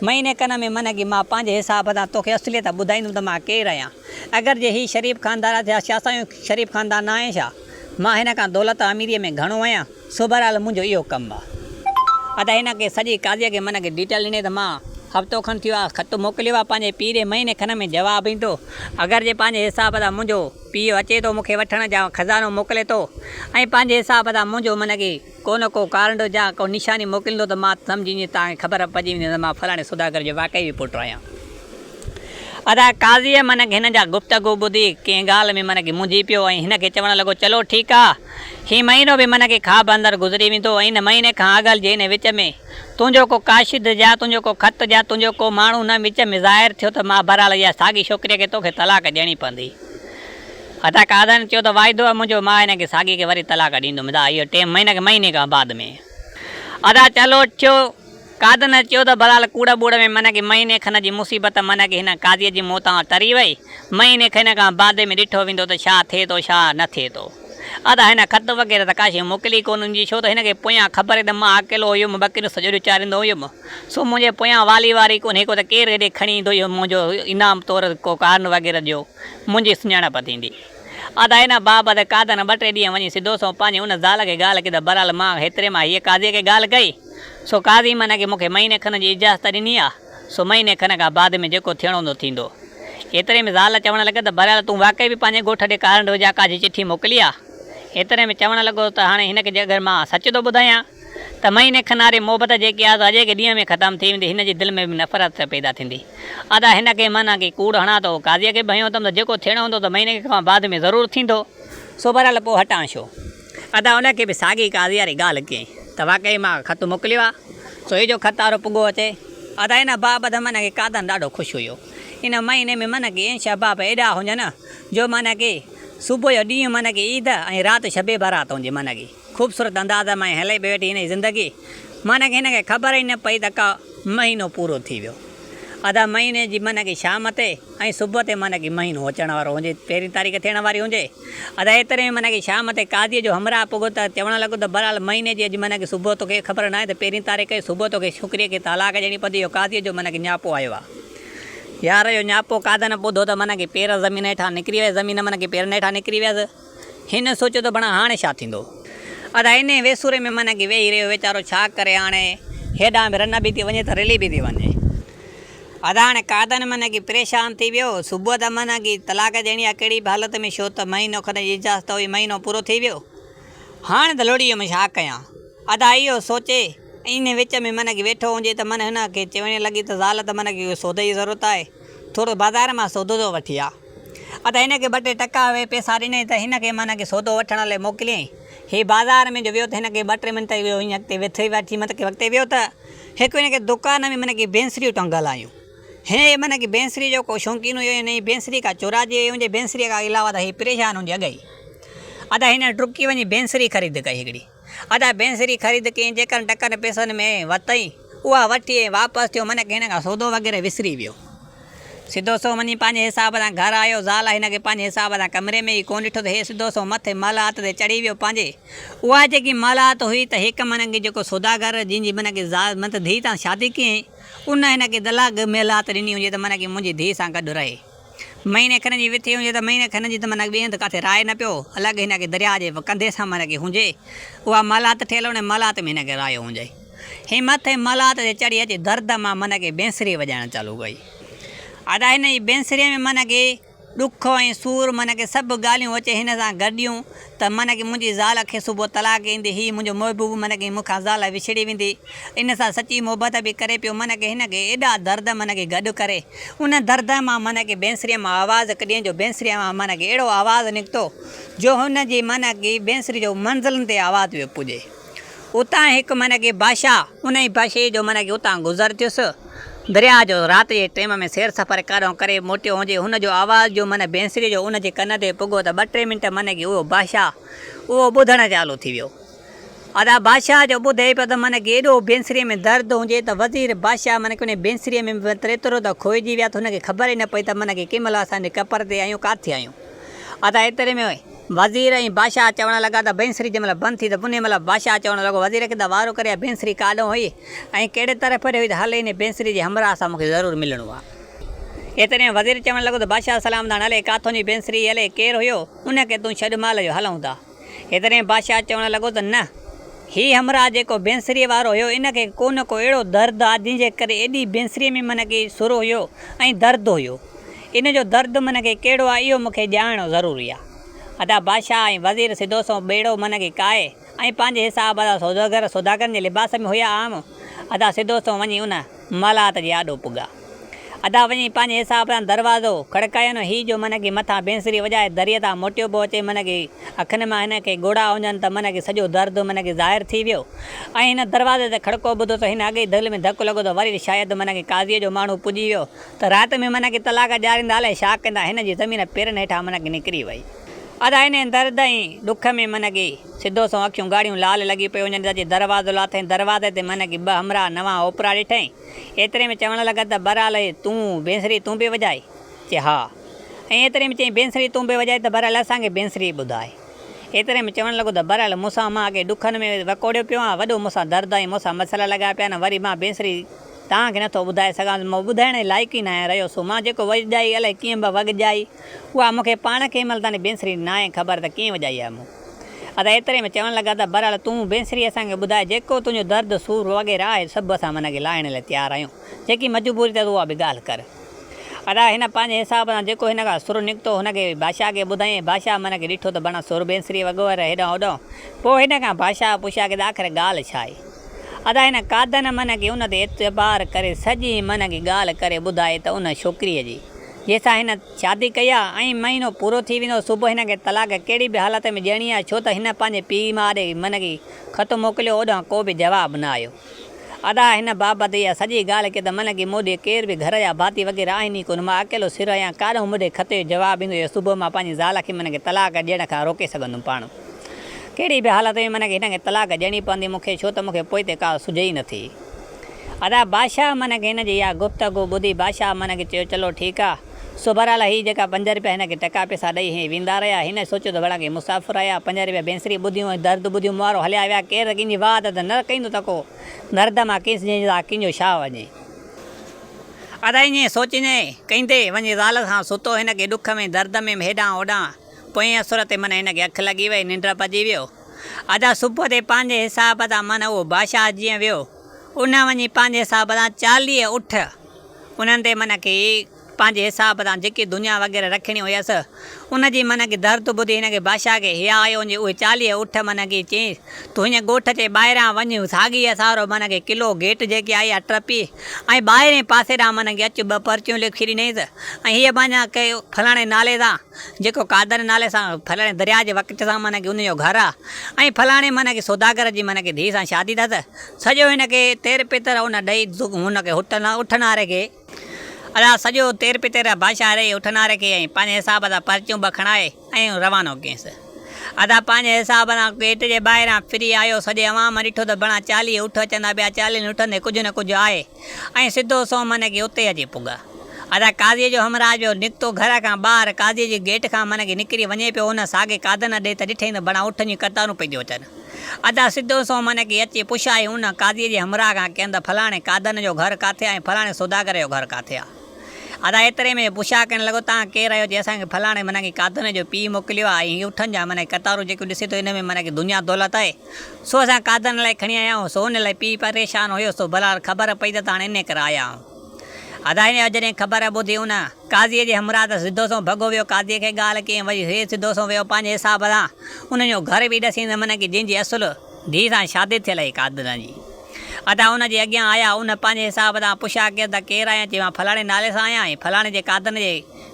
مهيني کن ۾ من ڪي مان پنهنجي حساب سان توکي اصليت ٻڌائيندم ته مان ڪير آهيان. اگر جي هي شريف خاندان آهي ته ڇا شاهه سائين شريف خاندان نه آهي ڇا؟ مان هن کان دولت ۽ اميريء ۾ گهڻو آهيان؟ سو بهرحال منهنجو اهو ڪم آهي. ادا هن کي سڄي قاضيء کي من ڪي ڊيٽيل ڏني ته مان هفتو کن ٿيو آهي خط موڪليو آهي پنهنجي پيء ڏي مهيني کن ۾ جواب ايندو. اگر جي پنهنجي حساب سان منهنجو پيء اچي ٿو مون کي وٺڻ جا خزانو موڪلي ٿو ۽ پنهنجي حساب سان منهنجو من ڪي ڪو نه ڪو ڪارنڊو جا ڪو نشاني موڪليندو ته مان سمجهي وڃين ته کي خبر پئجي ويندي ته مان فلاڻي سوداگر جو واقعي به پٽ آهيان. ادا قاضيء منک هن جا گفتگو ٻڌي ڪنهن ڳالهه ۾ منک منجهي پيو ۽ هن کي چوڻ لڳو چلو ٺيڪ آ هي مهينو به منک خواب اندر گذري ويندو ۽ ان مهيني کان اڳل جي هن وچ ۾ تنهنجو ڪو ڪاشد جا تنهنجو ڪو خط جا تنهنجو ڪو ماڻهو هن وچ ۾ ظاهر ٿيو ته مان بهرحال اها ساڳي ڇوڪريء کي توکي طلاق ڏيڻي پوندي. عطا قادرن چيو ته واعدو آهي منهنجو مان هن کي ساڳي کي وري طلاق ڏيندم ادا اهو ٽي مهينا کي مهيني کان بعد ۾ ادا چلوٽ ٿيو قادرن چيو ته بهرحال ڪوڙ ٻوڙ ۾ من کي مهيني کن جي مصيبت من کي هن قاضي جي موتان ٽري وئي مهيني کن کان بعد ۾ ڏٺو ويندو ته ڇا ٿئي ٿو ڇا نه ٿئي ٿو ادا هن خط وغيره ته ڪاشي موڪلي ڪونه هوندي ڇو ته هن کي پويان خبر هئي ته مان اڪيلو هيم ٻڪريون سڄو ڏينهن چاريندو هيم. سو منهنجي پويان والي واري ڪونهي ڪو ته ڪير هيڏي کڻي ايندو جو منهنجو انعام طور ڪو ڪارن وغيره جو منهنجي سڃاڻپ ٿيندي. ادا ان بابت قادن ٻه ٽي ڏينهن وڃي سڌو سنئون پنهنجي ان زال کي ڳالهه ڪئي ته بهرحال مان هيتري مان هيء قاضيء کي ڳالهه ڪئي. سو قاضي من کي مون کي مهيني کن جي اجازت ڏني آ. سو مهيني کن کان بعد ۾ جيڪو ٿيڻو هوندو ٿيندو. ايتري ۾ زال چوڻ لڳس ته بهرحال تون واقعي به پنهنجي ڳوٺ ڏي ڪارنڊو جا ڪا جي چٺي موڪلي آ. ايتري ۾ چوڻ لڳو ته هاڻي هن کي جي اگر مان سچ ٿو ٻڌايان. ته مهيني کن واري محبت جي قياس اڄ ئڪ ڏينهن ۾ ختم ٿي ويندي هن جي دل ۾ به نفرت ته پيدا ٿيندي. ادا هن کي معنيٰ ڪي ڪوڙ هڻان ته هو قاضيء کي به هنيو اٿم ته جيڪو ٿيڻو هوندو ته مهيني کن کان بعد ۾ ضرور ٿيندو. سو بهرحال پوء هٽان ڇو؟ ادا ان کي به ساڳي قاضيء واري ڳالهه ڪيائين ته واقعي مان خط موڪليو آ سو هي جو خط وارو پڳو اچي. ادا ان بابت معنيٰ ڪي قاضن ڏاڍو خوش هيو. ان مهيني ۾ معنيٰ ڪي انش احباب ايڏا هجن جو معنيٰ ڪي صبح جو ڏينهن معنيٰ ڪي عيد ۽ رات شب برات هجي معنيٰ ڪي. خوبصورت انداز مان هلي پئي ويٺي هن جي زندگي معنيٰ هن کي خبر ئي نه پئي ته ڪا مهينو پورو ٿي ويو ادا مهيني جي معنيٰ شام تي ۽ صبح تي معنيٰ مهينو اچڻ وارو هجي پهرين تاريخ ٿيڻ واري هجي ادا ايتري ۾ معنيٰ شام تي قاضي جو همراهه پڳو ته چوڻ لڳو ته بهرحال مهيني جي اڄ معنيٰ صبح توکي خبر ناهي ته پهرين تاريخ ڪئي صبح توکي ڇوڪري کي طلاق ڏيڻي پوندي اهو قاضي جو معنيٰ نياپو آيو آ يار اهو نياپو قاضن ٻڌو ته معنيٰ پير زمين هيٺان نڪري ويس زمين معنيٰ پيرن هيٺان نڪري ويس. هن سوچيو ته بڻا هاڻي ڇا ٿيندو؟ ادا انهي ويسوري ۾ من اگهي ويهي رهيو ويچارو ڇا ڪري هاڻي هيڏانهن به رنه به ٿي وڃي ته رلي به ٿي وڃي. ادا هاڻي قائدن من اگهي پريشان ٿي ويو صبح ته من اگهي طلاق ڏيڻي آ ڪهڙي به حالت ۾ ڇو ته مهينو کن جي اجازت هئي مهينو پورو ٿي ويو هاڻي ته لڙي ويم ڇا ڪيان ادا اهو سوچي ۽ انهي وچ ۾ من اگهي ويٺو هجي ته من هن کي چوڻ لڳي ته زال ته من اگهي ڪو سودي جي ضرورت آهي ٿورو بازار مان سودو ٿو وٺي آ. ادا هن کي ٻه ٽي ٽڪا اهي پيسا ڏنئين ته هن کي معنيٰ ڪي سودو وٺڻ لئي موڪليائين. هي بازار ۾ جو ويو ته هن کي ٻه ٽي منٽ ئي ويو ائين اڳتي وٿي وٺي مت ڪي اڳتي ويو ته هڪ هن کي دوڪان ۾ معنيٰ ڪي بينسريون ٽنگل آيون. هن هي معنيٰ ڪي بينسري جو ڪو شونقين هيو هن هي بينسري ڪا چوراجي هيون جي بينسري کان علاوه ته هي پريشان هون جي اڳئي ادا هن ڊڪي وڃي بينسري خريد ڪئي هڪڙي. ادا بينسري خريد ڪيئي جيڪر ٽڪن پيسن ۾ ورتئي اها وٺي ۽ واپس ٿيو منهن کي هن کان سودو وغيره وسري ويو سڌو سنئون وڃي پنهنجي حساب سان گهر آيو زال هن کي پنهنجي حساب سان ڪمري ۾ ئي ڪونه ڏٺو ته هي سڌو سنئون مٿي محلات تي چڙهي ويو پنهنجي اها جيڪي محلات هئي ته هڪ منهن کي جيڪو سوداگر جنهن جي منهن کي زال مطلب ڌيء سان شادي ڪيئي ان هن کي طلاق محلات ڏني هجي ته منهن کي منهنجي ڌيء سان گڏ رهي. مهيني کن جي وٿي هجي ته مهيني کن جي ته معنيٰ ٻئي هنڌ ڪاٿي راهي نه پيو الڳ هن کي درياء جي ڪنڌي سان معنيٰ هجي اها مالات ٺهيل ان مالات ۾ هن کي راهيو هجي هي مٿي مالات تي چڙهي اچي درد مان معنيٰ بينسري وڄائڻ چالو ڪئي ادا هن جي بينسري ۾ معنيٰ ڏک ۽ سور معنيٰ سڀ ڳالهيون اچي هن سان گڏيون ته من ڪي منهنجي زال کي صبح طلاق ايندي هي منهنجو محبوب من ڪي مون کان زال وڇڙي ويندي ان سان سچي محبت به ڪري پيو من ڪي هن کي ايڏا درد من ڪي گڏ ڪري ان درد مان من ڪي بينسري مان آواز هڪ ڏينهن جو بينسري مان من ڪي اهڙو آواز نڪتو جو هن جي من ڪي بينسري جو منزلن تي آواز پيو پڄي. اتان هڪ معنيٰ ڪي باشا، انهيء باشي جو معنيٰ ڪي اتان گذر ٿيس. درياهه جو رات جي ٽيم ۾ سير سفر ڪاڏهون ڪري موٽيو هجي، هن جو آواز جو معنيٰ بينسريء جو ان جي ڪن تي پڳو ته ٻه ٽي منٽ معنيٰ ڪي اهو باشا اهو ٻڌڻ چالو ٿي ويو. ادا باشا جو ٻڌي پيو ته معنيٰ ڪي ايڏو بينسريء ۾ درد هجي ته وزير باشا معنيٰ ڪي انهيء بينسريء ۾ به متل ايترو ته کوئجي ويا ته هن کي خبر ئي نه پئي ته معنيٰ ڪي ڪنهن مهل اسان هن ٽپر تي آهيون ڪاٿي آهيون. ادا ايتري ۾ وزير ۽ بادشاهه چوڻ لڳا ته بينسري جنهن مهل بند ٿي ته انهي مهل بادشاهه چوڻ لڳو وزير کي ته وارو ڪري اها بينسري ڪاڏئون هئي ۽ ڪهڙي طرح ڦري هئي ته هل انهي بينسري جي همراهه سان مون کي ضرور ملڻو آ. ايتري ۾ وزير چوڻ لڳو ته بادشاهه سلامدان الئي ڪاٿون جي بينسري هئي الئي ڪير هيو انهي کي تون ڇڏ مال جو هلئون ٿا. ايتري ۾ بادشاهه چوڻ لڳو ته نه هي همراهه جيڪو بينسري وارو هيو ان کي ڪو نه ڪو اهڙو درد آ جنهن جي ڪري ايڏي بينسري ۾ من ڪي سر هيو ۽ درد هيو ان جو درد من کي ڪهڙو آهي اهو مون کي ڄاڻڻ ضروري آهي. ادا بادشاهه ۽ وزير سڌو سنئون ٻيڙو من کي ڪاهي ۽ پنهنجي حساب ادا سوداگر سوداگرن جي لباس ۾ هيا عام ادا سڌو سنئون وڃي ان مالات جي آڏو پڳا. ادا وڃي پنهنجي حساب سان دروازو کڙڪايون هي جو من کي مٿان بينسري وڄائي دريء تان موٽيو پيو اچي من کي اکين مان هن کي ڳوڙها اونجهن ته من کي سڄو درد من کي ظاهر ٿي ويو ۽ هن دروازي تي کڙڪو ٻڌو ته هن اڳئي دل ۾ ڌڪ لڳو ته وري شايد من کي قاضيء جو ماڻهو پڄي ويو ته رات ۾ منهن کي طلاق ڏياريندا الائي ڇا ڪندا هن جي زمين پيرن هيٺان منهن کي نڪري وئي ادا انهي درد ۽ ڏک ۾ منهن کي سڌو سنئون اکيون ڳاڙهيون لال لڳي پيو وڃن ادا جي دروازو لاٿائين دروازي تي منهن کي ٻه همراهه نوان اوپرا ڏٺائين ايتري ۾ چوڻ لڳا ته برالئي تون بينسري تون به وڄائي چي ها ۽ ايتري ۾ چئين بينسري تون به وڄائي ته برالئي اسان کي بينسري ٻڌاء ايتري ۾ چوڻ لڳو ته برالئي مون سان مان اڳي ڏکن ۾ وڪوڙيو پيو آهيان وڏو مون سان درد ۽ مون سان مسئلا لڳايا پيا آهن وري مان بينسري توهان کي نٿو ٻڌائي سگهان ته مان ٻڌائڻ جي لائق ئي ناهيان رهيو سو مان جيڪو وڄجائي الائي ڪيئن به وڳجائي اها مون کي پاڻ کي ان مهل تائين بينسري ناهي خبر ته ڪيئن وڄائي آهي مون ادا ايتري ۾ چوڻ لڳا ته بهرحال تون بينسري اسان کي ٻڌاء جيڪو تنهنجو درد سور وغيره آهي سڀ اسان من کي لاهڻ لاء تيار آهيون جيڪي مجبوري اٿس اها به ڳالهه ڪر ادا هن پنهنجي حساب سان جيڪو هن کان سر نڪتو هن کي بادشاهه کي ٻڌائين بادشاهه من کي ڏٺو ته بنا سر بينسري وڳو وري هيڏانهن هوڏانهن پوء هن کان بادشاهه پڇيا ڪي ته آخر ڳالهه ڇا آهي. ادا هن قادن منهن کي ان تي اعتبار ڪري سڄي منهن کي ڳالهه ڪري ٻڌائي ته ان ڇوڪريء جي جنهن سان هن شادي ڪئي آ ۽ مهينو پورو ٿي ويندو صبح هن کي طلاق ڪهڙي به حالت ۾ ڏيڻي آ ڇو ته هن پنهنجي پيء ماء ڏي منهن کي خط موڪليو اوڏانهن ڪو به جواب نه آيو ادا هن بابت اها سڄي ڳالهه ڪي ته منهن کي مون ڏي ڪير به گهر جا ڀاتي وغيره آهن ئي ڪونه مان اڪيلو سر آهيان ڪاڏانهن مون ڏي خط جو جواب ايندو يا صبح مان پنهنجي زال کي منهن کي طلاق ڏيڻ کان روڪي سگهندم پاڻ ڪهڙي به حالت ۾ منک هن کي طلاق ڏيڻي پوندي مون کي ڇو ته مون کي پوئتي ڪا سجهي ئي نٿي. ادا بادشاهه منک هن جي اها گفتگو ٻڌي بادشاهه منک چيو چلو ٺيڪ آ سو بهرحال هي جيڪا پنج رپيا هن کي ٽڪا پئسا ڏئي هي ويندا رهيا هن سوچيو ته ڀلا ڪي مسافر آيا پنج رپيا بينسري ٻڌيون ۽ درد ٻڌيون مونوارو هليا ويا ڪير ته ڪنهن جي واهه درد نه رڪيندو ته ڪو درد مان ڪيس جنهن جي زاهه ڪنجهو شاهه وڃي. ادا ائين سوچيندي ڪهيندي وڃي زال سان ستو هن کي ڏک ۾ درد ۾ هيڏانهن هوڏانهن. پوئين اسر تي من هن کي اک لڳي وئي، ننڊ پڄي ويو. ادا صبح تي پنهنجي حساب تان من اهو بادشاهه جيئن ويو، اونهن وڃي پنهنجي حساب تان چاليهه اٺ، انهن تي من کي پنهنجي حساب تان جيڪي دنيا وغيره رکڻي هيس، ان جي من کي درد ٻڌي هن کي بادشاهه کي حياء آيو ان جي اهي چاليهه اٺ من کي چيس، تون هينئن ڳوٺ جي ٻاهران وڃ ساڳي هي سارو من کي قلعو گيٽ جيڪي آهي اها ٽپي ۽ ٻاهرين پاسي ڏانهن من کي اچ ٻه پرچيون لکي ڏنيس ۽ هيء پنهنجا ڪي فلاڻي نالي سان. جيڪو قادر نالي سان ڦلاڻي درياء جي وڪٽ سان معنيٰ ڪي ان جو گهر آ ۽ ڦلاڻي معنيٰ ڪي سوداگر جي معنيٰ ڪي ڌيء سان شادي اٿس سڄو هن کي تير پتير ان ڏئي هن کي اٺ ناري کي ادا سڄو تير پتير بادشاهه ڏئي اٺ ناري کي ۽ پنهنجي حساب سان پرچيون ٻه کڻائي ۽ روانو ڪيس ادا پنهنجي حساب سان گيٽ جي ٻاهران ڦري آيو سڄي عوام ڏٺو ته بڻا چاليهه اٺ اچن ٿا پيا چاليهن اٺن تي ڪجهه نه ڪجهه آهي. ائين سڌو سون من ڪي اتي اچي پڳا. ادا قاضيء جو همراهه جو نڪتو گهر کان ٻاهر قاضيء جي گيٽ کان من ڪي نڪري وڃي پيو ان ساڳي قاضن ڏي ته ڏٺئي ته ڀڻا اٺن جون قطارون پئي ٿيون اچن. ادا سڌو سون من ڪي اچي پڇيائين ان قاضيء جي همراهه کان ڪين ته فلاڻي قاضن جو گهر ڪاٿي آهي ۽ فلاڻي سوداگر جو گهر ڪاٿي آهي. ادا ايتري ۾ پڇا ڪرڻ لڳو توهان ڪير آهيو؟ چي اسان کي فلاڻي من ڪي قاضن جو پيء موڪليو آهي ۽ هي اٺن جا من ڪي قطارون جيڪيون ڏسي ٿو ان ۾ من ڪي دنيا دولت آهي. سو اسان قادن لاء کڻي آيا آهيون، سو ان لاء پيء پريشان هيو، سو بلحال خبر پئي ته هاڻي انهيء ڪري آيا آهيون. ادائين يا جڏهن خبر ٻڌي ان قاضيء جي همراهه ته سڌو سنئون ڀڳو ويو، قاضيء کي ڳالهه ڪيائين، وري هيء سڌو سنئون ويو پنهنجي حساب سان انهن جو گهر به ڏسين ته من ڪي جنهن جي اصل ڌيء سان شادي ٿيل هئي قادن جي. ادا ان جي اڳيان آيا، ان پنهنجي حساب سان پڇيا ڪيس ته ڪير آهين؟ چيائين مان فلاڻي نالي سان آهيان، هي فلاڻي جي قادن جي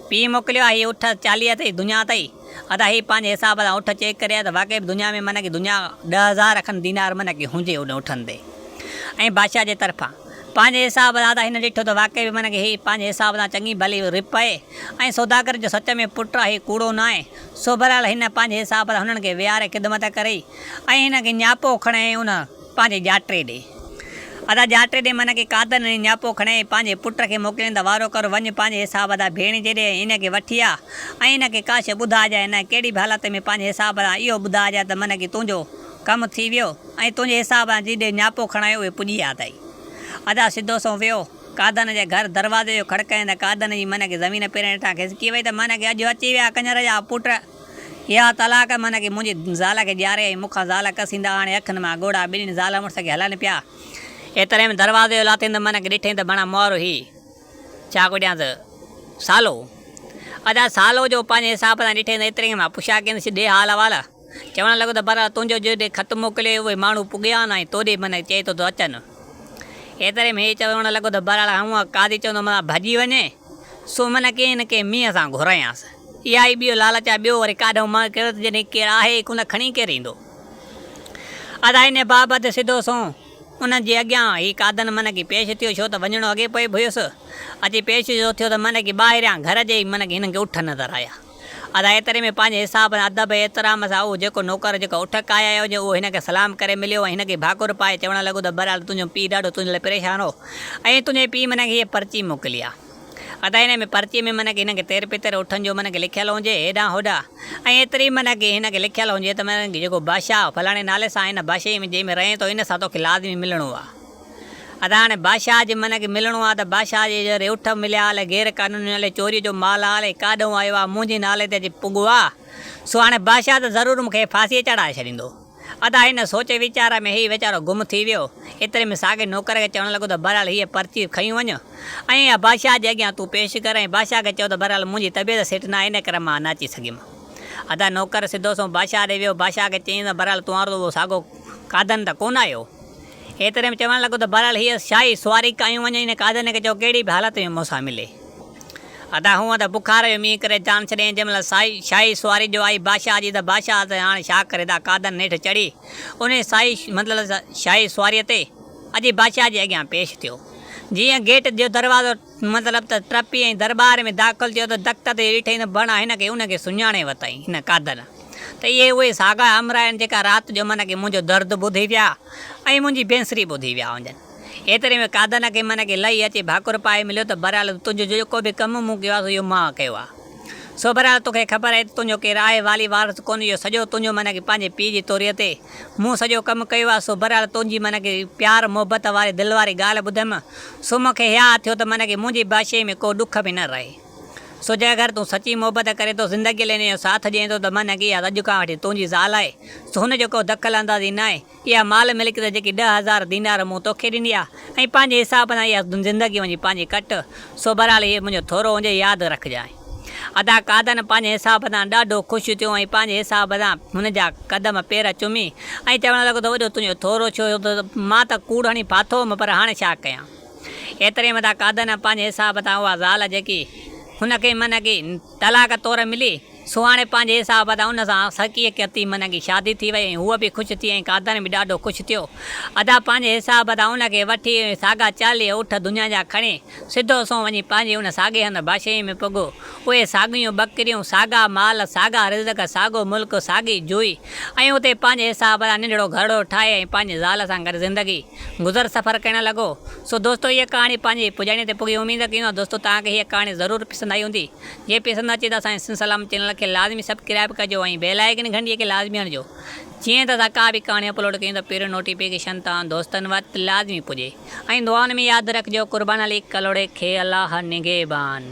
پيء موڪليو آهي، هي اٺ چاليهه اٿئي، دڃا اٿئي. ادا هي پنهنجي حساب سان اٺ چيڪ ڪري آيا ته واقعي به دنيا ۾ معنيٰ ڪي دنيا ڏهه هزار کن دينار معنيٰ ڪي هجي ان اٺن تي ۽ بادشاهه جي طرفان پنهنجي حساب سان ادا هن ڏٺو ته واقعي به معنيٰ ڪي هي پنهنجي حساب سان چڱي ڀلي رپئي ۽ سوداگر جو سچ ۾ پٽ آهي ڪوڙو ناهي سو بهرحال هن پنهنجي حساب سان هنن کي ويهاري خدمت ڪري ۽ هن کي نياپو کڻي ۽ ان پنهنجي ڄاٽي ڏي. ادا ڄاٽي ڏي معنيٰ ڪي قادر نڙي نياپو کڻي پنهنجي پٽ کي موڪلين ته وارو ڪر وڃ پنهنجي حساب ادا ڀيڻيجي ڏي ۽ ان کي وٺي آ ۽ ان کي ڪا شيء ٻڌائجانء نه ڪهڙي به حالت ۾ پنهنجي حساب سان اهو ٻڌائجانء ته معنيٰ ڪي تنهنجو ڪم ٿي ويو ۽ تنهنجي حساب سان جي ڏي نياپو کڻايو اهي پڄي آ تائين. ادا سڌو سنئون ويو قادر جي گهر دروازي جو کڙڪائين ته قادر جي معنيٰ ڪي زمين پيرن هيٺان کسڪي وئي ته معنيٰ ڪي اڄ اچي ويا ڪڃر جا پٽ. يا طلاق معنيٰ ڪي منهنجي زال کي ڄاري ۽ مون کان زال ڪسيندا آڻي اکين مان ڳوڙها ٻنهي زال مڙس کي هلائن پيا. ايتري ۾ دروازي جو لاتيندو معنيٰ ڪي ڏٺئين ته بڻا مور هي ڇا ڪڍيانس سالو ادا سالو جو پنهنجي حساب سان ڏٺئين ته ايتري ۾ مان پڇا ڪينس ڏي حال احوال چوڻ لڳو ته برحال تنهنجو جو ڏي خط موڪليو اهي ماڻهو پڳيا آهن ۽ تو ڏي معنيٰ چئي ٿو ته اچن ايتري ۾ هي چوڻ لڳو ته برحال هونء قاضي چوندو متان ڀڄي وڃي سو من ڪي نه ڪي مينهن سان گهريانس. اها ئي ٻيو لالچ آهي. ٻيو وري ڪاڏهو مئي ڪيو ته جڏهن ڪير آهي ئي ڪونه کڻي ڪير ايندو. ادا انهيء بابت سڌو سنئون انهن جي اڳيان هي ڪاڌن من ڪي پيش ٿيو ڇو ته وڃڻو اڳي پئي به هيس. اچي پيش جو ٿيو ته من ڪي ٻاهريان گهر جي ئي من ڪي هنن کي اٺ نظر آيا. ادا ايتري ۾ پنهنجي حساب سان ادب ۽ احترام سان اهو جيڪو نوڪر جيڪو اٺ ڪاهيايو هجين اهو هن کي سلام ڪري مليو ۽ هن کي ڀاڪر پائي چوڻ لڳو ته بهرحال تنهنجو پيء ڏاڍو تنهنجي لاء پريشان هو ۽ تنهنجي پيء منهنجي هيء پرچي موڪلي آ ادا هن ۾ پرچي ۾ منهنجي هن کي تير پتر اٺن جو منهنجي لکيل هجي هيڏانهن هوڏانهن ۽ ايتري منهنجي هن کي لکيل هجي ته منهنجي جيڪو بادشاهه فلاڻي نالي سان آهي ان بادشاهي ۾ جنهن ۾ رهين ٿو ان سان توکي لازمي ملڻو آ. اسان هاڻي بادشاهه جي منهن کي ملڻو آهي ته بادشاهه جي جي ريوٺ مليا هالي غير قانوني نالي چوريء جو مال هالي ڪاڏهون آيو آهي منهنجي نالي تي اچي پڳو آهي سو هاڻي بادشاهه ته ضرور مون کي ڦاسيء چڙهائي ڇڏيندو ادا هن سوچ ويچار ۾ هي ويچارو گم ٿي ويو ايتري ۾ ساڳئي نوڪر کي چوڻ لڳو ته بهرحال هيء پرچي کڻي وڃ ۽ اها بادشاهه جي اڳيان تون پيش ڪر ۽ بادشاهه کي چئو ته بهرحال منهنجي طبيعت سٺ ناهي ان ڪري مان نه اچي سگهيم ادا نوڪر سڌو سنئون بادشاهه ڏي ويو بادشاهه کي چيائين ته بهرحال توهان اهو ساڳو ڪاڌن ته ڪونه آهيو. ايتري ۾ چوڻ لڳو ته بهرحال هيء شاهي سواري ڪاهيون وڃن ان قاضيانه کي چئو ڪهڙي به حالت ۾ مون سان ملي. ادا هونء ته بخار جو مينهن ڪري جان ڇڏيائين جنهن مهل سائي شاهي سواري جو آئي بادشاهه جي ته بادشاهه ته هاڻي ڇا ڪري ادا قاضيانه نيٺ چڙهي انهيء سائي مطلب ته شاهي سواريء تي اچي بادشاهه جي اڳيان پيش ٿيو جيئن گيٽ جو دروازو مطلب ته ٽپي ۽ درٻار ۾ داخل ٿيو ته دقت جو ڏٺئي ته بڻ هن کي ان کي سڃاڻي وتائين هن قاضيانه ته اهي اهي ساڳا همراهه آهن جيڪا رات جو من کي منهنجو درد ٻڌي ويا ۽ منهنجي بينسري ٻڌي ويا هجن. ايتري ۾ قادن کي من کي لهي اچي ڀاڪر پائي مليو ته بهرحال تنهنجو جيڪو به ڪم مون ڪيو آهي سو اهو مان ڪيو آهي. سو بهرحال توکي خبر آهي ته تنهنجو ڪير آهي والي وارث ڪونه اهو سڄو تنهنجو من کي پنهنجي پيء جي توري تي مون سڄو ڪم ڪيو آهي سو بهرحال تنهنجي من کي پيار محبت واري دل واري ڳالهه ٻڌيم سو مون کي هياء ٿيو ته من کي منهنجي بادشاهي ۾ ڪو ڏک به نه رهي. سو جيڪر تون سچي محبت ڪرين ٿو، زندگيء لئه نيو ساٿ ڏئين ٿو ته من اڳي يا اڄ کان وٺي تنهنجي زال آهي. سو هن جو ڪو دخل اندازي ناهي. اها مال ملڪيت جيڪي ڏهه هزار دينار مون توکي ڏني آهي ۽ پنهنجي حساب سان اها زندگي وڃي پنهنجي ڪٽ. سو بهرحال هيء منهنجو ٿورو هجي، ياد رکجانء. ادا قادن پنهنجي حساب سان ڏاڍو خوش ٿيو ۽ پنهنجي حساب سان هن جا قدم پير چمي ۽ چوڻ لڳو ته وڏو تنهنجو ٿورو ڇو ٿيو ته مان ته ڪوڙ هڻي ڦاٿو هوم پر هاڻي ڇا ڪيان. ايتري مٿان قادن پنهنجي حساب تان اها زال جيڪي هن کي منهگي طلاق طور ملي، سو هاڻي پنهنجي حساب تان ان سان سڪيء ڪتي منهگي شادي ٿي وئي ۽ هوء به خوش ٿي ۽ قادن به ڏاڍو خوش ٿيو. ادا پنهنجي حساب تان ان کي وٺي ۽ ساڳا چاليهه اٺ دنيا جا کڻي، سڌو سنئون وڃي پنهنجي ان ساڳئي هنڌ باشيء ۾ پڳو. اهي ساڳيون ٻڪريون، ساڳا مال، ساڳا رزق، ساڳو ملڪ، ساڳي جوئي ۽ اتي پنهنجي حساب تان ننڍڙو گهرڙو ٺاهي ۽ پنهنجي زال سان گڏ زندگي. گذر سفر ڪهڙن لڳو. سو دوستو هيء ڪهاڻي پنهنجي پڄاڻيء تي پڳي اميد ڪيون ٿا دوستو توهان کي هيء ڪهاڻي ضرور پسند آئي هوندي جي پسند اچي ته اسان سنڌ سلام چينل کي لازمي سبڪرائب ڪجو ۽ بيل آئيڪن گهنٽيء کي لازمي هڻجو جيئن ته اسان ڪا به ڪهاڻي اپلوڊ ڪيون ته پهريون نوٽيفڪيشن توهان دوستن وٽ لازمي پڄي ۽ دعائن ۾ ياد رکجو قربان علي ڪلهوڙي کي الله نگهبان.